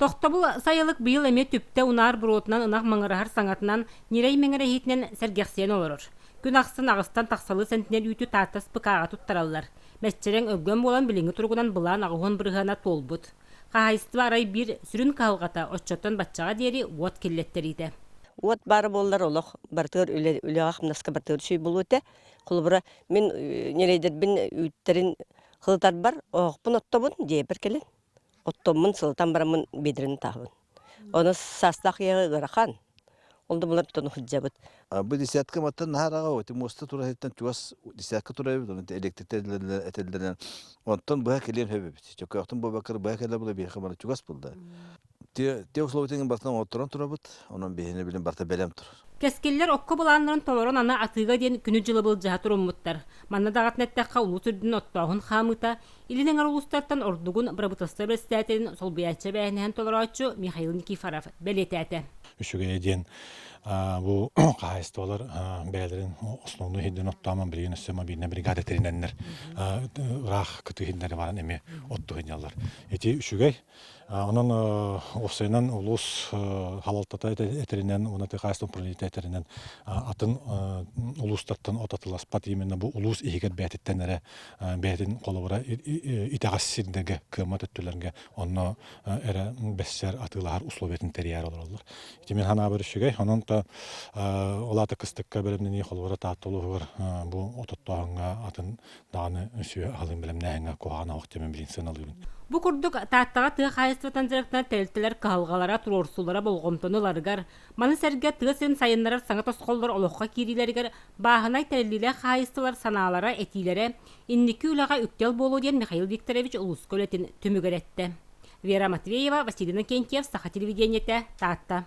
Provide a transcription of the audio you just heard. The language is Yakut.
Тохтобул сайылык быйыл эмиэ түптэ унаар буруотунан ынах маҥыраһар саҥатынан, ньирэй мэҥирэһиитинэн сэргэхсийэн олорор. Күн ахсын аҕыстан тахсалыы сэнтинэл үүтү Тааттас пыкааҕа туттараллар. Мэччирэҥ өггөн буолан билиҥҥи туругунан былаан аҕыһын бырыһыана туолбут. Хаһаайыстыба арай биир сүрүн кыһалҕата оччоттон баччаҕа диэри уот киллэттэриитэ. Уот баара буоллар олох барытыгар үлэ үлэҕэ-хамнаска барытыгар үчүгэй буолуо этэ. Холобура, мин ньирэйдэрбин үүттэрин хылытарбар оһохпун оттобун, дьиэбэр кэлэн Оттоммун сылытан бараммын бедрин таһабын. Ону саастаах ийэҕэ ыарахан. Ол да булар тон сылдьабыт. Бу десятка маттан наһаараҕа эти муоста турайыттан чугас десятка турайбыт онон электритэллэринэн этэллэринэн онтон быһа кэлиэн сөбөбүт. Чөкөөхтүн бобакыр быһа кэлэ була биэхэ бары чугас булда. Те те условиетын бартан оҥотторон турабыт онон биһине билин барта бэлэм тур. Кэскиллэр окко булааннарын толорон ана атыыга диэн күнү дьылы былдьаһа туруммуттар. Манна даҕатан эттэххэ улуу түрдүн оттооһун хаамыыта Илин эҥэр улуустартан ордугун бырабыыталыстыба председателин солбуйааччы эбээһинэһин толорооччу Михаил Никифоров бэлиэтээтэ. Үчүгэйэ диэн бу хаһаайыстыбалар бэйэлэрин основной иһирдэн оттоомон билигин өссө мобильнай бригада тэринэннэр ыраах кытыы иһиннэри баран эми отту сынньаллар. Ити үчүгэй, Онон уопсайынан улуус халалтата этэринэн уонна хаһаайыстыба управлениета этэринэн атын улуустартан от атыласпат именно бу улуус иһигэр бэйэтиттэн эрэ бэйэтин холобура итэҕэс сирдэргэ кыаммат өттүлэргэ онно эрэ бэссэр атыылаһар условиятын тэрийэр олороллор. Ити мин санаабар үчүгэй. Онон то ол аата кыстыкка бэлэмнэнии холобура Таатта улууһугар бу ототтооһуҥҥа атын даҕаны үсүө аһылыын бэлэмнээһиҥҥэ куһаҕан оһох дьэмэ билин сыаналыыбын. Бу курдук Тааттаҕа тыа хаһаайыстыбатан директор тэрилтэлэр кыһалҕалара туруорсуулара болҕомтону ыларыгар, маны сэргэ тыа сирин сайыннарар саҥа тосхоллор олоххо киириилэригэр бааһынай тэриллиилээх хаһаайыстыбалар санаалара, этиилэрэ инники үлэҕэ үктэл буолуо диэн Михаил Викторович улууска үлэтин түмүгэр эттэ. Вера Матвеева, Василий Иннокентьев, Саха телевидениетэ, Таатта.